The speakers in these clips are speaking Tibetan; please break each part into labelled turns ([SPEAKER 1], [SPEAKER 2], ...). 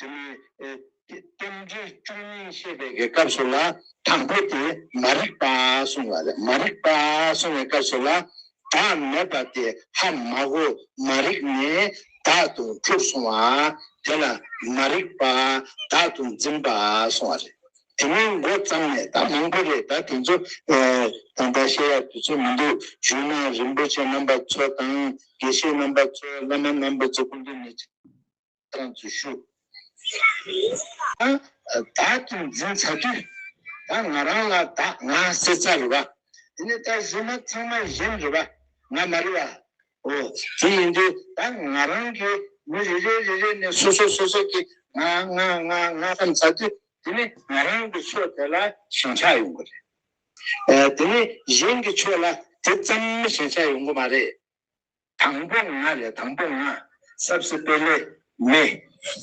[SPEAKER 1] དེ་ལོའི་སྟོན་དཔྱིད་བཅུ་གཉིས་བཤད་པའི་སྐབས་སུ་ལ་དང་པོ་དེ་མ་རིག་པ་གསུངས་པ་རེད། མ་རིག་པ་གསུངས་པའི་སྐབས་སུ་ལ་བདག་མེད་པ་དེ་ཧ་མ་གོ་མ་རིག་ནས་བདག་ཏུ་གྲུབ་སོང་བ་དེ་ལ་མ་རིག་པ་བདག་ཏུ་འཛིན་པ་གསུངས་བ་རེད། དེ་མིན་མགོ་བརྩམས་ནས་ད་མང་པོ་རེད་ད་དེ་ཚོ་ད་ལྟ་བཤད་ཡག་དུས་ཚོད་མི་འདུག་གཞུང་ན་རིན་པོ་ཆེ་རྣམ་པ་ཚོ་དང་དགེ་བཤེས་རྣམ་པ་ཚོ་བླ་མ་རྣམ་པ་ཚོ་སྐུ་མདུན་ནས། བསྐང་ཚུལ་ཞུ། བདག་ཏུ་འཛིན་བྱ་དུས་ད་ང་རང་ལ་བདག་ང་སྲེད་ཚ་རེད་པ། དེ་ནས་ད་གཞི་མ་ཚང་མ་གཞན་རེད་པ་ང་མ་རེད་པ། འོ་དེ་ཡིན་དུས་ད་ང་རང་གིས་མི་རེ་རེ་རེ་རེ་ནས་སོ་སོ་སོ་སོ་གི་ང་ང་ང་ང་བསམ་ཚར་དུས་དེ་ནི་ང་རང་གི་ཕྱོགས་དེ་ལ་ཞེན་ཆགས་ཡོང་གི་རེད། དེ་ནི་གཞན་གྱི་ཕྱོགས་ལ་དེ་ཙམ་ཞེན་ཆགས་ཡོང་གི་མ་རེད། དང་པོ་ང་རེད་དང་པོ་ང། སབ་སི་པེ་ལེ། མེ།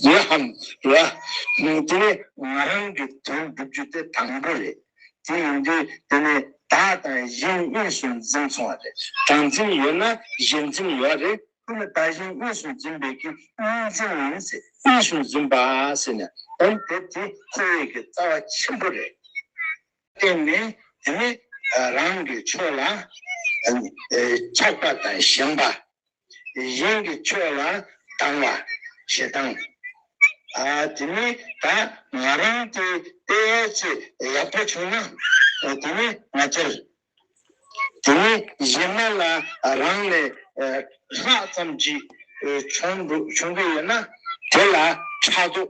[SPEAKER 1] ཡེ་ཧམ། ལ། དེ་ནི་ང་རང་གི་དོན་བསྒྲུབ་རྒྱུ་དེ་དང་པོ་རེད། དེ་ཡིན་དུས་དེ་ནི་བདག་དང་གཞན་གཉིས་སུ་འཛིན་སོང་བ་རེད། བདག་འཛིན་ཡོད་ན་གཞན་འཛིན་ཡོད་རེད། དེ་ནི་བདག་གཞན་གཉིས་སུ་འཛིན་པའི་གི་གཉིས་འཛིན་མིན། གཉིས་སུ་འཛིན་པ་ཟེར་ནས་དོན་དེ་དེ་ཁོ་བོས་ཀྱི་རྩ་བ་ཆེན་པོ་རེད། བརྟེན་ནས་དེ་ནི་རང་གི་ཕྱོགས་ལ་ཆགས་པ་དང་ཞེན་པ། གཞན་གྱི་ཕྱོགས་ལ་སྡང་བ། ཞེ་སྡང། དེ་ནི་ད་ང་རང་གི་དཔེ་ཆེས་ཡག་པོ་བྱུང་ན་དེ་ནི་ང་སྤྱིར། དེ་ནི་གཞན་མ་ལ་རང་ལས་ལྷག་ཙམ་ཅིག་བྱུང་གི་ཡོད་ན་དེ་ལ་ཕྲག་དོག།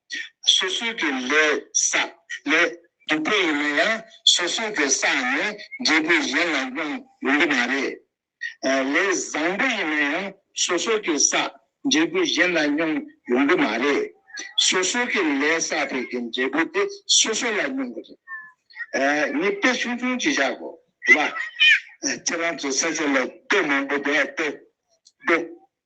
[SPEAKER 1] སོ་སོའི་གི་ལས་ས་ལས་སྡུག་པོ་ཡིན་ན་ཡང་སོ་སོའི་གི་ས་ནས་འབྲས་བུ་གཞན་ལ་སྣང་ཡོང་གི་མ་རེད། ལས་བཟང་པོ་ཡིན་ན་ཡང་སོ་སོའི་གི་ས་འབྲས་བུ་གཞན་ལ་སྙོང་ཡོང་གི་མ་རེད། སོ་སོའི་གི་ལས་ས་དེ་གི་འབྲས་བུ་དེ་སོ་སོ་ལ་སྙོང་གི་རེད། ངས་དཔེ་ཆུང་ཆུང་གཅིག་བཞག་གོ་ལ། ཁྱེད་རང་ཚོས་ས་ཆ་ལ་དཔེ་མང་པོ་བསྡད་འདུག།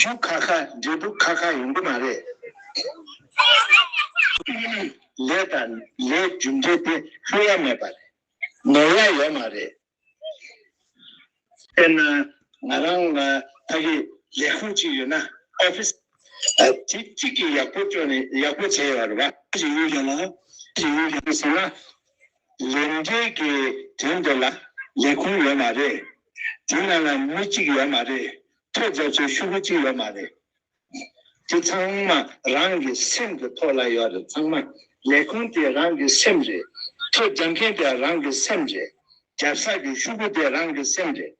[SPEAKER 1] ཁྱོད་ཁ་ཁ་འབྲས་བུ་ཁ་ཁ་ཡོང་གི་མ་རེད། ལས་དང་ལས་རྒྱུ་འབྲས་དེ་ལྷོད་ཡ་མེད་པ་རེད། ནོར་ཡ་ཡོད་མ་རེད། དཔེར་ན་ང་རང་ལ་ཕ་གི་ལས་ཁུངས་གཅིག་ཡོད་ན Office། དེ་གཅིག་གིས་ཡག་པོ་སྤྱོད་ནས་ཡག་པོ་བྱས་ཡོད་རེད་བ། ཞེས་ཡོད་ཀྱང་ལ་ཞེས་ཡོད་ཀྱང་ཟེར་ན། ལས་འབྲས་ཀྱི་དོན་དེ་ལ་ལས་ཁུངས་ཡོད་མ་རེད། དེ་ནང་ལ་མི་གཅིག་ཡོད་མ་རེད། ཐོས་རྫ་ཚོའི་ཤུག་པོ་གཅིག་ཡོད་མ་རེད། དེ་ཚང་མ་རང་གི་སེམས་ཀྱི་ཐོག་ལ་ཡོད་རེད་ཚང་མ་ལས་ཁུངས་དེ་རང་གི་སེམས་རེད། ཐོས་རྫ་མཁན་དེ་རང་གི་སེམས་རེད། རྒྱབ་ས་ཀྱི་ཤུག་པོ་དེ་རང་གི་སེམས་རེད།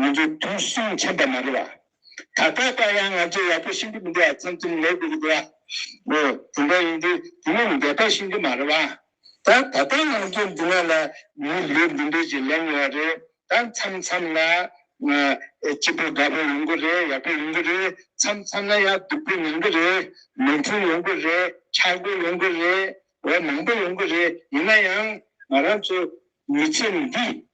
[SPEAKER 1] ང་ཚོའི་དུང་སོང་མཆན་པ་མ་རེད་བ། ད་ལྟ་བར་ཡང་ང་ཚོས་ཡག་པོ་ཤེས་ཀྱི་མི་འདུག་བ་ཚང་ཚིང་ལེ་དགོས་ཀྱི་འདུག་བ། འོ་དེ་འདྲ་ཡིན་དུས་དེ་མིན་འདི་ལྟར་ཤེས་ཀྱི་མ་རེད་བ། ད་ད་ལྟ་ང་ཚོའི་འདི་ན་ལ་མི་ལུས་འདི་འདྲས་ཀྱི་ལེན་ཡོད་རེད་ད་མཚམས་མཚམས་ལ་སྐྱིད་པོ་དགའ་པོ་ཡོང་གི་རེད་ཡག་པོ་ཡོང་གི་རེད་མཚམས་མཚམས་ལ་ཡང་སྡུག་པོ་མྱོང་གི་རེད་མོས་མཐུན་ཡོང་གི་རེད་ཆག་སྒོ་ཡོང་གི་རེད་འོ་མང་པོ་ཡོང་གི་རེད་ཡིན་ན་ཡང་ང་རང་ཚོ་མི་ཚེ་འདི་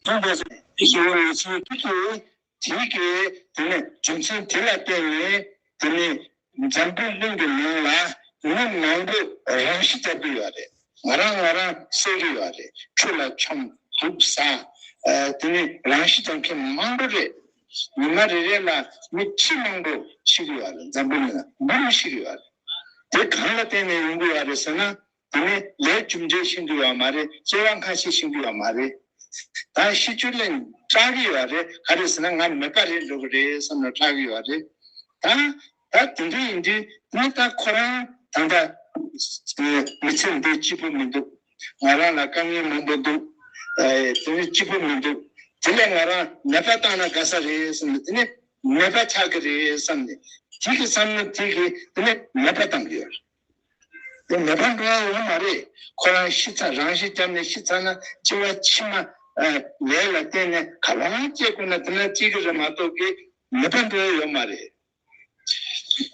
[SPEAKER 1] སྟོན་པས་སོ། ཞེས་པའི་ལས་ཚུལ་ཕུལ་ཏོ། དེའི་སྐད་དེ་ནི་རྒྱུ་མཚན་དེ་ལ་བརྟེན་ནས་དེ་ནི་འཇམ་དཔལ་གླིང་གི་ནང་ལ་མི་མང་པོས་རང་ཤི་བརྒྱབ་ཀྱི་ཡོད་རེད་ང་རང་ང་རང་བསད་ཀྱི་ཡོད་རེད་ཁྱོད་ལ་ཆོམ་དུག་ཟ། དེ་ནི་རང་ཤི་བརྒྱབ་མཁན་མང་པོ་རེད། ཉི་མ་རེ་རེ་ལ་མི་ཁྲི་མང་པོ་ཤི་གི་ཡོད་རེད་འཇམ་དཔལ་གླིང་ལ་འབུ་མི་ཤི་གི་ཡོད་རེད། དེ་གང་ལ་བརྟེན་ནས་ཡོང་གི་ཡོད་རེད་ཟེར་ན། དེ་ནི་ལས་བཅུ་འབྲས་ཤིང་དུ་ཡོད་མ་རེད་སྐྱེ་བ་ཁ་ཤས་ཤིང་དུ་ཡོད་མ་རེད་ད་ཤི་ཆུ་ལེན་སྐྲག་གི་ཡོད་རེད་ག་རེ་ཟེར་ན་ང་མེད་པ་རེད་འགྲོ་གི་རེད་བསམ་ན་སྐྲག་གི་ཡོད་རེད་ད་ད་དེ་འདྲ་ཡིན་དུས་ནི་ད་ཁོ་རང་ད་ལྟ་མི་ཚེ་འདི་སྐྱིད་པོ་མི་འདུག་ང་རང་ལ་དཀའ་ངལ་མང་པོ་འདུག་དེ་ནི་སྐྱིད་པོ་མི་འདུག་དེ་ལས་ང་རང་ནད་པ་བཏང་ན་དགའ་ས་རེད་བསམ་ནས་དེ་ནི་ནད་པ་ཆགས་གི་རེད་བསམ་ནས་དེ་གི་བསམ་ན་དེ་གི་དེ་ནི་ནད་པ་བཏང་གི་ཡོད་རེད། དེ་ནེ་པ་ལ་ཡོད་མ་རེད། ཁོ་རང་ཤི་ཚ་རང་ཤི་བསྐྱབས་ནས་ཤི་ཚ་ན་སྐྱེ་བ་ཕྱི་མ། ལས་ལ་བརྟེན་ནས་ག་ལ་ཡང་སྐྱེ་དགོས་ན་དེ་ན་སྐྱེ་གི་རེད་མ་གཏོགས་ཀི་ནེ་པ་ལ་ཡོད་མ་རེད། ཤི་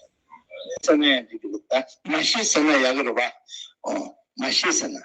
[SPEAKER 1] ཟེར་ན་ཡང་འགྲིག་གི་རེད་ད། མ་ཤི་ཟེར་ན་ཡག་གི་རེད་བ། མ་ཤི་ཟེར་ན།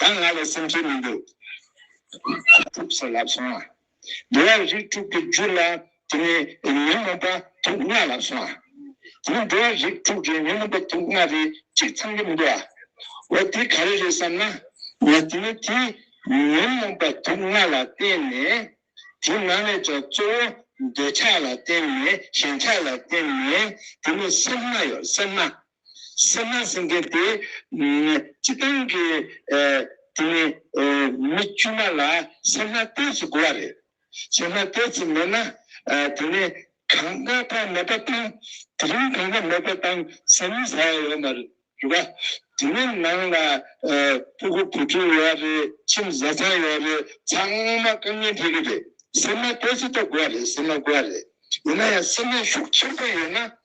[SPEAKER 1] ད་ང་ལ་སེམས་ཁྲལ་མི་འདུག། ཁོ་ཐུགས་སུ་ལབ་སོང་ཨ། དེ་བས་རིགས་དྲུག་གི་རྒྱུད་ལ་དེ་ནས་ཉོན་མོངས་པ་དུག་ལྔ་ལབ་སོང་ཨ། དེ་ནི་དེ་བས་རིགས་དྲུག་གི་ཉོན་མོངས་པ་དུག་ལྔ་རེ་གཅིག་ཚང་གི་མི་འདུག་ཨ། འོ་དེ་ག་རེ་རེད་བསམ་ན། ན་དེ་ནི་དེ་ཉོན་མོངས་པ་དུག་ལྔ་ལ་བརྟེན་ནས། དེ་ནང་ནས་ཀྱང་གཙོ་བོ་འདོད་ཆགས་ལ་བརྟེན་ནས་ཞེན་ཆགས་ལ་བརྟེན་ནས་དེ་ནི་སེམས་མ་ཡོད་སེམས་མ། སེམས་ནང་སེམས་ཁྲལ་དེ་སྤྱི་བཏང་གི་དེ་ནི་མི་དཀྱུས་མ་ལ་སེམས་ནང་ལྟས་ཚུལ་དགོས་བ་རེད། སེམས་ནང་ལྟས་ཚུལ་མེད་ན་དེ་ནི་གང་ལྟ་བ་མེད་པ་དང་དེ་རིང་གང་ལྟ་མེད་པ་དང་ཟེར་མིན་ཟ་ཡ་ཡོད་མ་རེད། རེད་པ། དེ་ནི་ནང་ལ་སྤུ་གུ་བུ་ཕྲུག་ཡོད་བ་རེད་ཁྱིམ་བཟའ་ཚང་ཡོད་བ་རེད་ཚང་མ་དཀའ་ངལ་འཕྲད་གི་རེད། སེམས་ནང་ལྟས་ཚུལ་ལྟ་དགོས་བ་རེད་སེམས་ནང་དགོས་བ་རེད། ཡིན་ན་ཡང་སེམས་ནང་ཤུགས་ཆེར་བཏང་ཡོད་ན།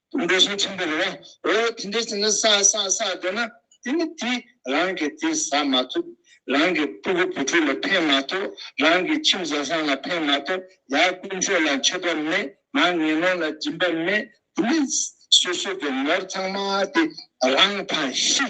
[SPEAKER 1] དུ་འདོད་ཞེན་ཆེན་པོ་རེད། འོ་དེ་འདྲའི་ཚེ་ན་བསགས་བསགས་བསགས་སྡོད་ན་དེ་ནི་དེ་རང་གི་དེ་ཟ་མ་ཐུབ། རང་གི་སྤུ་གུ་བུ་ཕྲུག་ལ་ཕན་མ་ཐོགས་རང་གི་ཁྱིམ་བཟའ་ཚང་ལ་ཕན་མ་ཐོགས་ཡང་དཀོན་མཆོག་ལ་མཆོད་པ་མེད་མ་ངན་ནོར་ལ་སྦྱིན་པ་མེད་དེ་ནི་སོ་སོ་གི་ནོར་ཚང་མ་དེ་རང་ཕ་ཤི།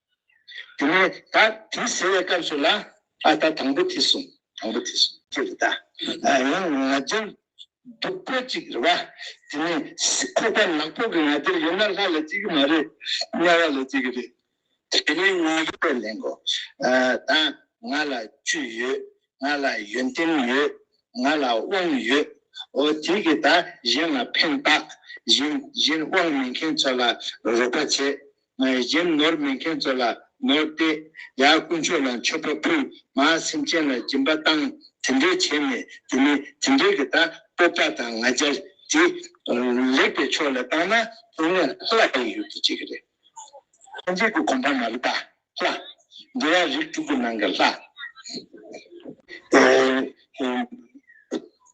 [SPEAKER 1] དེ་ནས་ད་དྲིས་ཟེར་བའི་སྐབས་སུ་ལ་ཨ་ད་དང་པོ་དྲིས་སོང་དང་པོ་དྲིས་སོང་ཅི་རེད་ད་ཡང་ང་རྒྱལ་འདུག་པོ་ཅིག་རེད་བ། དེ་ནས་ཁོ་པ་ནག་པོ་གི་ང་རྒྱལ་ཡོད་ན་ལྷ་ལ་སྐྱེ་གི་མ་རེད་དམྱལ་བ་ལ་སྐྱེ་གི་རེད། དེ་ནས་ང་རྒྱལ་པས་ལན་གོ། ད་ང་ལ་བཅུད་ཡོད་ང་ལ་ཡོན་ཏན་ཡོད་ང་ལ་དབང་ཡོད། འོ་དེ་གི་ད་གཞན་ལ་ཕན་བཏགས་གཞན་དབང་མེད་མཁན་ཚོ་ལ་རོགས་པ་བྱེད་ངའི་གཞན་ནོར་མེད་མཁན་ཚོ་ལ་ནོར་བསྟད། ཡང་དཀོན་མཆོག་ལ་མཆོད་པ་ཕུལ། ང་སེམས་ཅན་ལ་སྦྱིན་པ་བཏང། དེ་འདྲའི་བྱས་ནས་དེ་མིན་དེ་འདྲའི་གི་ད་སྤོབས་པ་དང་ང་རྒྱལ་དེ། ལེགས་པའི་ཕྱོགས་ལ་བཏང་ན་དེ་ནི་ལྷ་ལ་ཡི་ཡུལ་དུ་བྱེད་གི་རེད། ཐམས་ཅད་ཀྱི་གོམ་པ་མ་རི་པ་ལྷ། འགྲོ་བ་རིགས་དྲུག་གི་ནང་གི་ལྷ།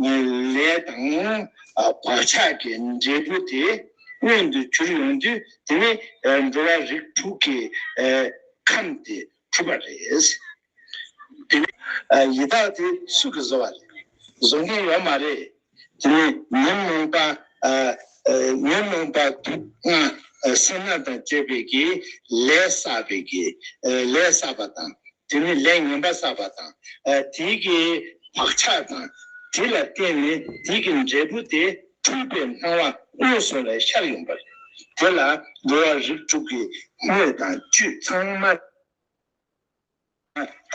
[SPEAKER 1] ངའི་ལས་དང་བག་ཆགས་ཀྱི་འབྲས་བུ་དེ་མངོན་དུ་གྱུར་ཡོང་དུས་དེ་ནི་འགྲོ་བ་རིགས་དྲུག་གི་ཁམས་དེ་གྲུབ་པ་རེད། དེ་ནི་ཡི་དྭགས་དེ་སུ་གི་བཟོ་བ་རེད། བཟོ་མཁན་ཡོད་མ་རེད། དེ་ནི་ཉོན་མོངས་པ། ཉོན་མོངས་པ་དུག་ལྔ་སེར་སྣ་དང་བཅས་པའི་གིས་ལས་བསགས་པའི་གིས་ལས་བསགས་པ་དང་དེ་ནི་ལས་ངན་པ་བསགས་པ་དང། དེ་གི་བག་ཆགས་དང། དེ་ལ་བརྟེན་ནས་དེ་གི་འབྲས་བུ་སྟེ་འཁྲུལ་པའི་སྣང་བ་སྔོན་སོང་བའི་ཤར་ཡོང་པ་རེད། དེ་ལ་འགྲོ་བ་རིགས་དྲུག་གི་དངོས་དང་བཅུད་ཚང་མ་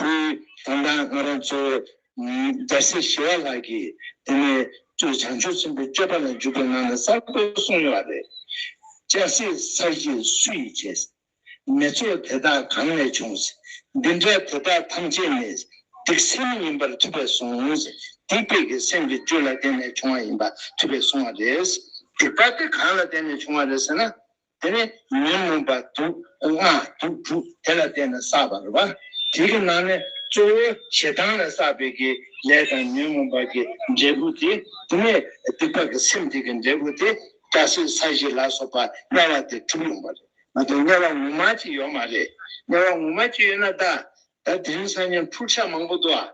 [SPEAKER 1] དེའི་དོན་དང་ང་རང་གཙོ་བོ་རྒྱལ་སྲས་ཞི་བ་ལགས་ཀྱིས་དེ་ནས་བཅུ་བྱང་ཆུབ་སེམས་དཔའི་སྤྱོད་པ་ལ་འཇུག་པའི་ངང་ནས་གསར་དུ་གསུངས་ཡོད་པ་རེད། སྤྱན་གཟིགས་ས་གཞི་སུ་ཡིས་བྱས། མེ་ཚོགས་དེ་དག་གང་ནས་བྱུང། འདི་འདྲ་དེ་དག་ཐམས་ཅད་ནི། སྡིག་སེམས་ཡིན་པར་ཐུབ་པས་བཟུང། སྡིག་པའི་གེགས་སེམས་ཀྱི་རྒྱུ་ལ་བརྟེན་ནས་བྱུང་བ་ཡིན་པར་ཐུབ་པས་བཟུང་བ་རེད། སྡིག་པ་དེ་གང་ལ་བརྟེན་ནས་བྱུང་བ་རེད་ཟེར་ན། དེ་ནི་ཉོན་མོངས་པ་དུག་ལྔ་དུག་དྲུག་དེ་ལ་བརྟེན་ནས་བསགས་པ་རེད། བ་དེ་གི་ནང་ནས་གཙོ་བོ་ཞེ་སྡང་ལས་བསགས་པའི་གི་ལས་དང་ཉོན་མོངས་པ་གི་འབྲས་བུ་དེ། དེ་ནས་སྡིག་པ་གི་སེམས་དེ་གི་འབྲས་བུ་དེ། སྐྲ་སེར་ས་གཞི་ལ་སོགས་པ་དམྱལ་བ་དེ་གྲུབ་ཡོང་བ་རེད། ང་དང་དམྱལ་བ་ངོ་མ་གཅིག་ཡོད་མ་རེད། དམྱལ་བ་ངོ་མ་གཅིག་ཡོད་ན་ད། ད་དེ་རིང་སང་ཉིན་འཁྲུག་ཆ་མང་པོ་འདུག་ཨ།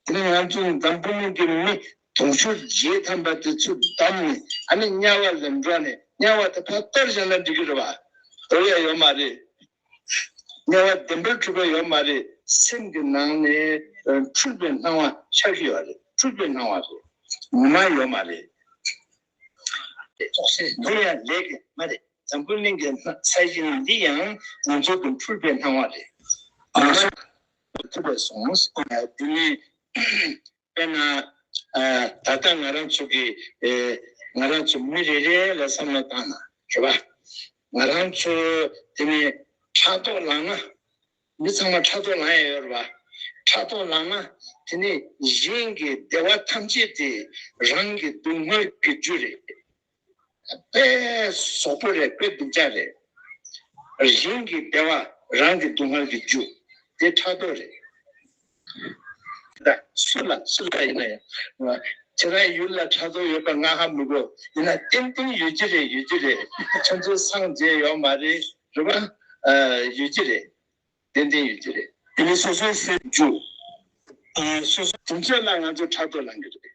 [SPEAKER 1] དེ་ནི་ང་ཚོ་ནི་འཛམ་བུ་གླིང་གི་མི། དུང་ཕྱུར་བརྒྱད་ཐམ་པ་དེ་ཚོ་བདམས་ནས་ཨ་ནི་དམྱལ་བ་ལེན་འགྲོ་ནས་དམྱལ་བ་དེ་ཕར་གཏོར་བཞག་ན་འགྲིག་གི་རེད་བ། འདོར་ཡ་ཡོད་མ་རེད། དམྱལ་བ་བདེན་པར་འཁྲུལ་པ་ཡོད་མ་རེད། སེམས་ཀྱི་ནང་ནས་འཁྲུལ་པའི་སྣང་བ་ཆགས་ཀྱི་ཡོད་རེད་འཁྲུལ་པའི་སྣང་བ་རེད། ངོ་མ་ཡོད་མ་རེད། རྟོག་བཟོས་འདི་ཡང་ལས་ཀྱི་མ་རེད་འཛམ་བུ་གླིང་གི་ས་གཞི་ནང་འདི་ཡང་ང་ཚོ་གི་འཕུར་པའི་སྣང་བ་རེད་ཨང། ཐུབ་པས་སོང། དེ་མིན་དཔེར་ན། ད་ལྟ་ང་རང་ཚོ་གི་ང་རང་ཚོ་མི་རེ་རེ་ལ་བསམ་བློ་བཏང་ན་རེད་པ། ང་རང་ཚོ་དེ་ནས་ཕྲག་དོག་ལངས་ན། འདི་ཚང་མ་ཕྲག་དོག་ལངས་ཡས་ཡོད་རེད་བ། ཕྲག་དོག་ལངས་ན་དེ་ནི་གཞན་གྱི་བདེ་བ་ཐམས་ཅད་དེ་རང་གི་སྡུག་བསྔལ་གྱི་རྒྱུ་རེད། དཔེ་ཟོག་པོ་རེད་དཔེ་སྡུག་ཅག་རེད། གཞན་གྱི་བདེ་བ་རང་གི་སྡུག་བསྔལ་གྱི་རྒྱུ་དེ་ཕྲག་དོག་རེད། ད་སུ་ལ་སུ་ལ་ཡིན་ན་ཡང། ཁྱེད་རང་ཡུལ་ལ་དྲ་ཐོག་ཡོད་པ་ང་ཧ་མི་གོ། ཡིན་ན་ཏན་ཏན་ཡོད་ཀྱི་རེད་ཡོད་ཀྱི་རེད། ཁྱོད་ཚོའི་སངས་རྒྱས་ཡོད་མ་རེད་རེད་པ། ཡོད་ཀྱི་རེད། ཏན་ཏན་ཡོད་ཀྱི་རེད། དེ་ནས་སོ་སོའི་སེམས་འཇུག། སོ་སོ། དེ་འཕྲལ་ལ་ང་ཚོ་དྲ་ཐོག་ལངས་ཀྱི་རེད།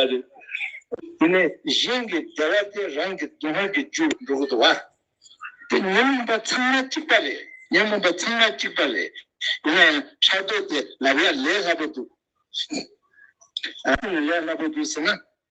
[SPEAKER 1] ཨ་རེ། དེ་ནས་གཞན་གྱི་བདེ་བ་སྟེ་རང་གི་སྡུག་བསྔལ་གྱི་རྒྱུ་འགྲོ་གི་འདུག་ཨ། དེ་ཉོན་མོངས་པ་ཚང་མ་གཅིག་པ་རེད་ཉོན་མོངས་པ་ཚང་མ་གཅིག་པ་རེད། ཡིན་ན་ཡང་ཕྲག་དོག་དེ་ལབ་ཡག་ལས་སླ་པོ་འདུག། ལས་སླ་པོ་འདུག་ཟེར་ན།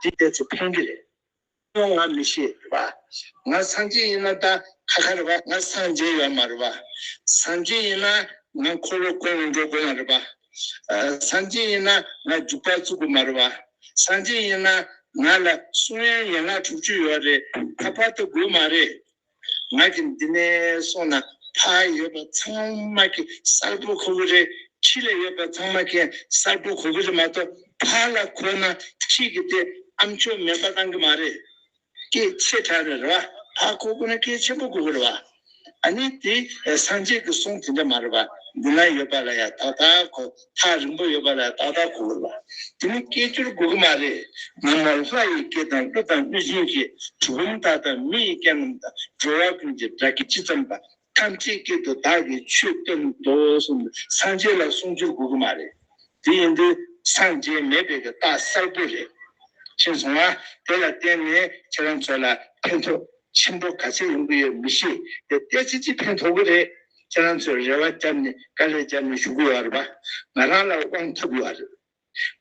[SPEAKER 1] འདི་གཏད་ཚུལ་ཕན་གི་རེད། སྐྱོ་ང་མི་ཤེས་རེད་བ། ང་སངས་རྒྱས་ཡིན་ན་ད་ཁ་ཁ་རེད་བ། ང་སངས་རྒྱས་ཡོད་མ་རེད་བ། སངས་རྒྱས་ཡིན་ན་ང་འཁོར་ལོ་བསྐོར་ནས་འགྲོ་དགོས་མ་རེད་བ། སངས་རྒྱས་ཡིན་ན་ང་རྒྱུག་པ་བཙུག་དགོས་མ་རེད་བ། སངས་རྒྱས་ཡིན་ན་ང་ལ་གསུང་དབྱངས་ཡན་ལག་དྲུག་ཅུ་ཡོད་རེད་ད་བར་དུ་དགོས་མ་རེད། ང་གི་འདི་ནས་སོང་ན་ཕ་ཡོད་པ་ཚང་མ་གི་གསར་བུ་གོ་གི་རེད་ཁྱི་ལ་ཡོད་པ་ཚང་མ་གི་གསར་བུ་གོ་གི་རེད་མ་གཏོགས་ཕ་ལ་གོ་ན་ཁྱི་གི་དེ་ཨ་མཆོག་མེད་པ་གཏང་གི་མ་རེད། སྐད་ཆེ་དྲག་རེད་རེད་བ་ཕ་གོ་གི་ན་སྐད་ཆེན་པོ་གོ་གི་རེད་བ་ཨ་ནི་དེ་སངས་རྒྱས་གི་གསུང་དེ་འདྲ་མ་རེད་བ་འདི་ན་ཡོད་པ་ལ་ཡང་དག་དག་གོ། ཐག་རིང་པོ་ཡོད་པ་ལ་ཏག་ཏག་གོ་དགོས་པ། དེ་མིན་སྐད་ཅོར་དགོས་ཀྱི་མ་རེད། ང་མོར་ལྷ་ཡི་སྐད་དང་ཀླུ་དང་གནོད་སྦྱིན་གྱི་གྲུལ་བུམ་དག་དང་མི་ཡི་སྐད་རྣམས་དང་འགྲོ་བ་ཀུན་གྱི་སྒྲ་སྐད་ཇི་ཙམ་པ་ཐམས་ཅད་སྐད་དུ་བདག་གིས་ཆོས་བསྟན་ཏོ་གསུངས་པས་སངས་རྒྱས་ལ་གསུང་བསྒྱུར་དགོས་ཀྱི་མ་རེད། དེ་ཡིན་དུས་སངས་རྒྱས་མེད་པའི་གི་རྟགས་གསལ་པོ་རེད། ཤེས་སོང་ང་དེ་ལ་བརྟེན་ནས་ཁྱེད་རང་ཚོ་ལ་ཕན་ཐོགས་ཆེན་པོ་ག་ཚད་ཡོང་གི་ཡོད་མི་ཤེས། དེ་བལྟས་ཚེ་ཅི་ཕན་ཐོགས་གི་རེད། ཁྱེད་རང་ཚོས་རེ་བ་བརྒྱབ་ནས་དཀའ་ལས་བརྒྱབ་ནས་ཞུགས་ཡོད་རེད་པ། ང་རང་ལ་དབང་ཐོབ་ཡོད་རེད།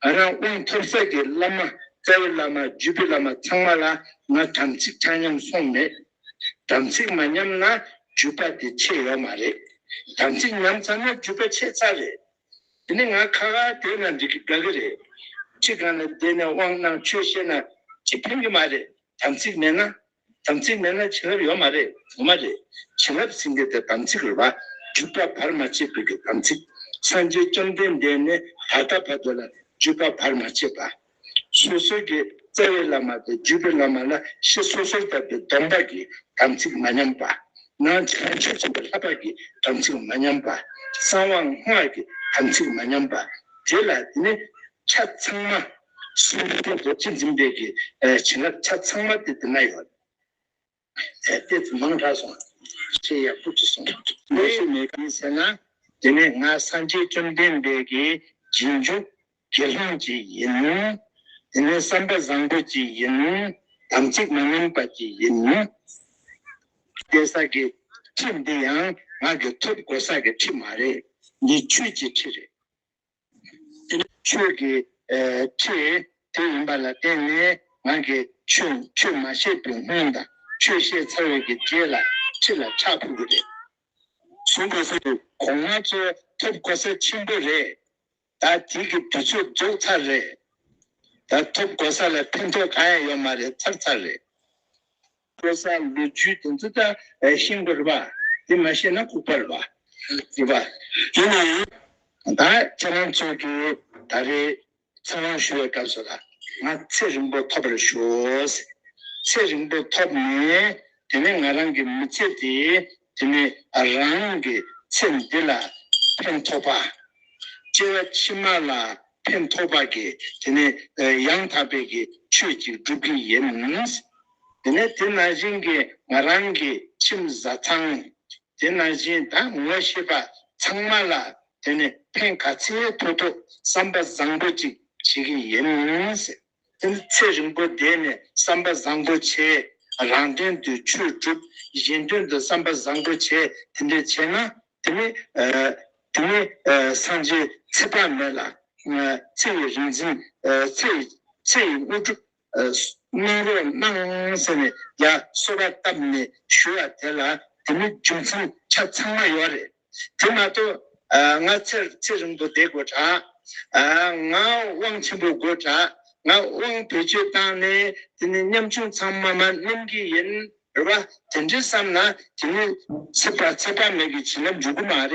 [SPEAKER 1] ང་རང་དབང་ཐོབ་ས་ཀྱི་བླ་མ་རྩ་བའི་བླ་མ་བརྒྱུད་པའི་བླ་མ་ཚང་མ་ལ་ང་དམ་ཚིག་ཆ་མཉམ་སོང་མེད། དམ་ཚིག་མ་མཉམ་ན་བརྒྱུད་པ་དེ་ཆེ་ཡོད་མ་རེད། དམ་ཚིག་མཉམ་ཚར་ན་བརྒྱུད་པ་ཆེ་ཚར་རེད། དེ་ནི་ང་ཁ་ཁ་དེ་ན་འགྲིག་གི་དགའ་གི་རེད། ཁྱེད་རང་ལ་བསྡད་ནས་དབང་གནང་ཆོས་བཤད་ན་ཅི་ཕན་གི་མ་རེད་དམ་ཚིག་མེད་ན། དམ་ཚིག་མེད་ན་བྱིན་རླབས་ཡོད་མ་རེད་ཡོད་མ་རེད། བྱིན་རླབས་ཟིན་དེ་དེ་དམ་ཚིག་རེད་བ། བརྒྱུད་པ་བར་མ་ཆད་བོད་ཀྱི་དམ་ཚིག། སངས་རྒྱས་བཅོམ་ལྡན་འདས་ནི་ད་ལྟ་བར་དུ་ལ་བརྒྱུད་པ་བར་མ་ཆད་པ། སོ་སོའི་གི་རྩ་བའི་བླ་མ་དང་བརྒྱུད་པའི་བླ་མ་ལ་ཤི་སོ་སོར་བཏབ་པའི་སྡོམ་པ་གི་དམ་ཚིག་མ་ཉམས་པ། ནང་བྱང་ཆུབ་སེམས་དཔའི་ལྷ་འཕགས་ཀྱི་དམ་ཚིག་མ་ཉམས་པ། གསང་བ་སྔགས་ཀྱི་དམ་ཚིག་མ་ཉམས་པ། དེ་ལ་དེ་ནི་ཆ་ཚང་མ། གསུམ་བདུན་ཐེངས་སོ་གཅིག་འཛིན་སྤེལ་གྱི་བྱིན་རླབས་ཆ་ཚང་མ་དེ་འདི་ན་ཡོད། དེ་ཚོ་མང་དྲགས་སོང། ཞེས་ཡར་སྤུར་གྱིས་གསུངས། ལས་ཞིག་མེད་གམ་ཟེར་ན། དེ་ནི་ང་སངས་རྒྱས་བཅོམ་ལྡན་འདས་ཀྱི་རྗེས་འཇུག་དགེ་སློང་ཅིག་ཡིན། དེ་ནི་བསམ་པ་བཟང་པོ་ཅིག་ཡིན། དམ་ཚིག་མ་ཉམས་པ་ཅིག་ཡིན། གཏད་ས་གི་ཁྲི་འདི་ཡང་ང་གི་ཐོབ་དགོས་ས་གི་ཁྲི་མ་རེད། འདི་ཁྱོད་ཀྱི་ཁྲི་རེད། དེ་ནི་ཆོས་ཀྱི་ཁྲིད་དེ་ཡིན་པ་ལ་བརྟེན་ནས་ང་གིས་ཆོས་ཆོས་མ་བཤད་དུས་སྔོན་དང་ཆོས་བཤད་ཚར་བའི་གི་རྗེས་ལ་ཕྱི་ལ་ཕྱག་ཕུལ་གི་རེད། གཞུང་གོ་ས་དེ་གོང་མ་ཚོ་ཐོབ་གོ་ས་ཆེན་པོ་རེད། ད་དེ་གི་དུས་ཚོད་རྫོགས་ཚར་རེད། ད་ཐོབ་གོ་ས་ལ་ཕན་ཐོགས་གང་ཡང་ཡོད་མ་རེད་ཚར་ཚར་རེད། དཔེར་ན་ལོ་རྒྱུས་དེ་ཚོ་ལྟར་ཤིང་བུར་བ། དེ་མ་ཤེས་ན་ལྐུགས་པར་བ། ཅེས་པ། ཡིན་ན་ཡང། ད་ཁྱེད་རང་ཚོས་ཀྱི་ད་རེས་ཚེ་དབང་ཞུ་བའི་སྐབས་སུ་ལ་ང་ཚེ་རིང་པོ་ཐོབ་པར་ཞུ། ཚེ་རིང་པོ་ཐོབ་ནས་དེ་ནས་ང་རང་གི་མི་ཚེ་དེ་དེ་ནས་རང་གི་ཚེ་འདི་ལ་ཕན་ཐོགས་པ། སྐྱེ་བ་ཕྱི་མ་ལ་ཕན་ཐོགས་པ་གི་དེ་ནས་ཡང་དག་པའི་གི་ཆོས་ཅིག་སྒྲུབ་ཀྱི་ཡིན། དེ་ནས་དེ་ན་བཞིན་གི་ང་རང་གི་ཁྱིམ་བཟའ་ཚང་དེ་ན་བཞིན་ད་ངོ་ཤེས་པ་ཚང་མ་ལ་དེ་ནས་ཕན་ག་ཚེ་ཐོགས་ཐུག་བསམ་པ་བཟང་པོ་ཅིག་བྱེད་ཀྱི་ཡིན། དེར་ཚེ་རིང་པོ་བསྡད་ནས་བསམ་པ་བཟང་པོ་བྱས། རང་དོན་དུ་ཆོས་བསྒྲུབ། གཞན་དོན་དུ་བསམ་པ་བཟང་པོ་བྱས་དེ་འདྲ་བྱས་ན། དེ་ནི། དེ་ནི། སངས་རྒྱས་ཚེ་དཔག་མེད་ལ། ཚེ་ཡི་རིག་འཛིན། ཚེ་ཡི་དངོས་གྲུབ། གནང་རོགས་གནང་ཟེར་ནས་ཡ་གསོལ་བ་བཏབ་ནས་ཞུ་བ་དེ་ལ་དེ་མི་རྒྱུ་མཚན་ཆ་ཚང་མ་ཡོད་རེད། དེ་མ་གཏོགས་ང་ཚེ་ཚེ་རིང་པོ་བསྡད་དགོས་གྲགས། ང་དབང་ཆེན་པོ་དགོས་གྲགས། ང་དབང་བེད་སྤྱོད་བཏང་ནས་དེ་ནི་ཉམ་ཆུང་ཚང་མ་མ་སྣུམ་གི་ཡིན་རེད་བ། དེ་འདྲའི་བསམ་ན་དེ་ནི་ཚེ་དཔག་ཚེ་དཔག་མེད་ཀྱི་བྱིན་རླབས་འཇུག་གི་མ་རེད།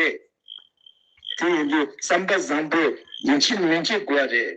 [SPEAKER 1] དེ་ཡིན་དུས་བསམ་པ་བཟང་པོས་མི་འཆི་མི་འགྱེད་དགོས་བ་རེད།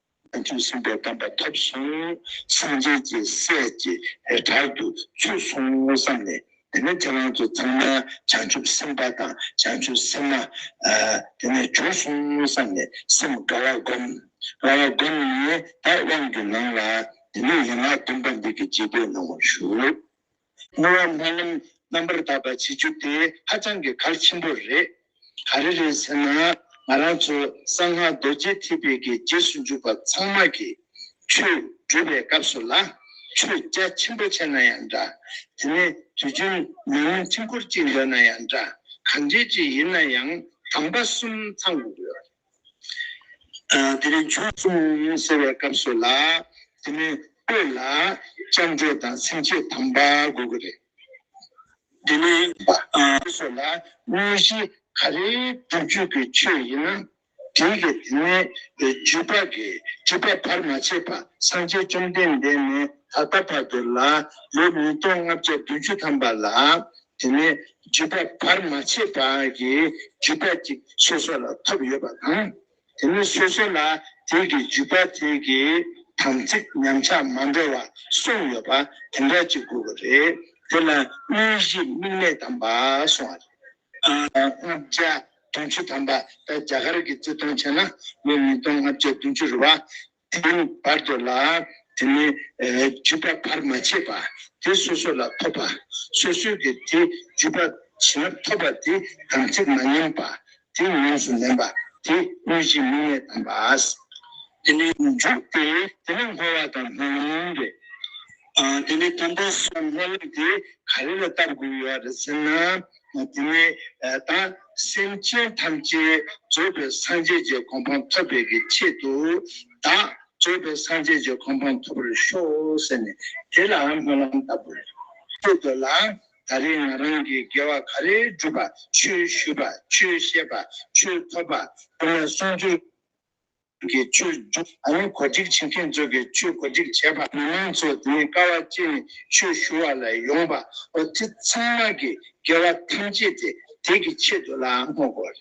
[SPEAKER 1] ཕན་ཚུན་སྲིང་བའི་གདམས་པ་ཐོབ་བྱུང། སངས་རྒྱས་ཀྱི་སྲས་ཀྱི་བྲག་ཏུ་ཚུད་སོང་ངོ་བསམ་ནས་དེ་ནས་ཁྱེད་རང་ཚོ་ཚང་མ་བྱང་ཆུབ་སེམས་དཔའ་དང་བྱང་ཆུབ་སེམས་མ་དེ་ནས་བྱུང་སོང་ངོ་བསམ་ནས་སེམས་དགའ་བ་བསྒོམ། དགའ་བ་བསྒོམ་ནས་བདག་དབང་གི་ལམ་ལ་དེ་ནས་ཡན་ལག་བདུན་པ་འདི་སྐད་ཅེས་བསྟོད་གནང་བར་ཞུ། སྔོན་མ་སྨོན་ལམ་རྣམ་པར་དག་པ་བྱེད་རྒྱུ་དེ་ཧ་ཅང་གི་གལ་ཆེན་པོ་རེད། ག་རེ་རེད་ཟེར་ན་ང་རང་ཚོ་གསང་སྔགས་རྡོ་རྗེ་ཐེག་པའི་གི་རྗེས་སུ་འཇུག་པ་ཚང་མ་གི་ཆོས་སྒྲུབ་པའི་སྐབས་སུ་ལ་ཆོས་རྒྱ་ཆེན་པོ་བྱས་ན་ཡང་འདྲ། དེ་ནས་དུས་རྒྱུན་མི་མང་འཕྲིན་འཁོར་གཅིག་འདོན་ན་ཡང་འདྲ་གང་འདྲས་ཅིག་ཡིན་ན་ཡང་གྲངས་པ་གསུམ་ཚང་དགོས་ཀྱི་ཡོད། དེ་རིང་ཆོས་གསུང་ཟེར་བའི་སྐབས་སུ་ལ་དེ་མི་དགོས་ལ། བཅར་འདྲི་དང་ཚིག་འཕྲད་དམ་པ་དགོས་ཀྱི་རེད། དེ་ནི་ཆོས་སོགས་ལ་དངོས་གཞི་ག་རེའི་སྒྲུབ་བརྒྱུད་ཀྱི་ཆོས་ཡིན་ན་དེའི་གི་དེ་ནས་བརྒྱུད་པ་གི་བརྒྱུད་པ་བར་མ་ཆད་པ་སངས་རྒྱས་བཅོམ་ལྡན་འདས་ནས་ད་ལྟ་བར་དུ་ལ་ལོ་ཉིས་སྟོང་ལྔ་བརྒྱ་བདུན་ཅུ་ཐམ་པ་ལ་དེ་ནས་རྒྱུད་པ་བར་མ་ཆད་པ་གྱི་རྒྱུད་པ་དེ་སོ་སོ་ལ་ཐོབ་ཡོད་པ་དང། དེ་ནི་སོ་སོ་ལ་དེ་གི་རྒྱུད་པ་དེ་གི་དམ་ཚིག་ཉམས་ཆག་མ་འགྲོ་བར་གསུངས་ཡོད་པ་དེ་འདྲ་གཅིག་དགོས་པ་རེད། དེ་ལ་དངོས་གཞི་དམིགས་མེད་དམ་པ་གསུངས་བ་རེད། ལྔ་བརྒྱ་དུང་ཕྱུར་དམ་པ་ད་རྒྱ་གར་གྱི་བརྩི་མཐོང་བྱས་ན་ལོ་ཉིས་སྟོང་ལྔ་བརྒྱ་དུང་ཕྱུར་རེད་བ། དེའི་བར་དུ་ལ་དེ་ནི་རྒྱུས་པ་བར་མ་ཆད་པ་དེ་སོ་སོ་ལ་ཐོབ་པ་སོ་སོའི་གི་དེ་རྒྱུས་པ་བྱིན་རླབས་ཐོབ་པ་དེ་དམ་ཚིག་མ་ཉམས་པ་དེ་ཉམས་སུ་ལེན་པ་དེ་གནོད་སྦྱིན་མིག་ནད་དམ་པ། དེ་ནི་འཇུག་སྟེ་དེ་ནི་འཁོར་བ་དང་སྣང་བ་མིན་ཏེ། དེ་ནས་དམ་པ་སོགས་སྨོན་ལམ་དེ་ག་རེ་ལ་བཏབ་དགོས་ཡོད་རེད་ཟེར་ན། དེ་ནས་ད་སེམས་ཅན་ཐམས་ཅད་རྩོད་པའི་སངས་རྒྱས་ཀྱི་གོ་འཕང་ཐོབ་པའི་གི་ཆེད་དུ་ད་རྩོད་པའི་སངས་རྒྱས་ཀྱི་གོ་འཕང་ཐོབ་པར་ཤོག་ཟེར་ནས་དེ་ལ་སྨོན་ལམ་བཏབ་དགོས་རེད། ལྟོས་དགོས་ལ། ད་རེས་ང་རང་གིས་དགེ་བ་ག་རེ་བསྒྲུབས་པ་ཆོས་ཞུས་པ་ཆོས་བཤད་པ་ཆོས་ཐོབ་པ་དེ་ལ་གསུང་རྒྱུ། གི་བཅོས་བསྒྱུར་དང་གོ་སྒྲིག་བྱེད་མཁན་ཚོས་ཀྱི་བཅོས་གོ་སྒྲིག་བྱས་པ། མི་མང་ཚོས་དེ་ནི་ཀ་བ་བཅས་ནས་ཆོས་ཞུ་བ་ལ་ཡོང་པ་བོ་དེ་ཚང་མ་གི་དགེ་བ་ཐམས་ཅད་དེ་དེ་གི་ཆེད་དུ་ལ་བསྔོ་དགོས་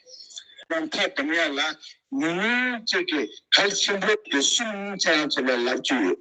[SPEAKER 1] རེད། རང་ཐག་འདམ་ཡ་ལ་ཉུང་ཉུང་བཅས་ཀྱི་གལ་ཆེན་པོ་དེ་གསུམ་ཅན་བྱེད་པའི་ལབ་ཀྱི་ཡོད།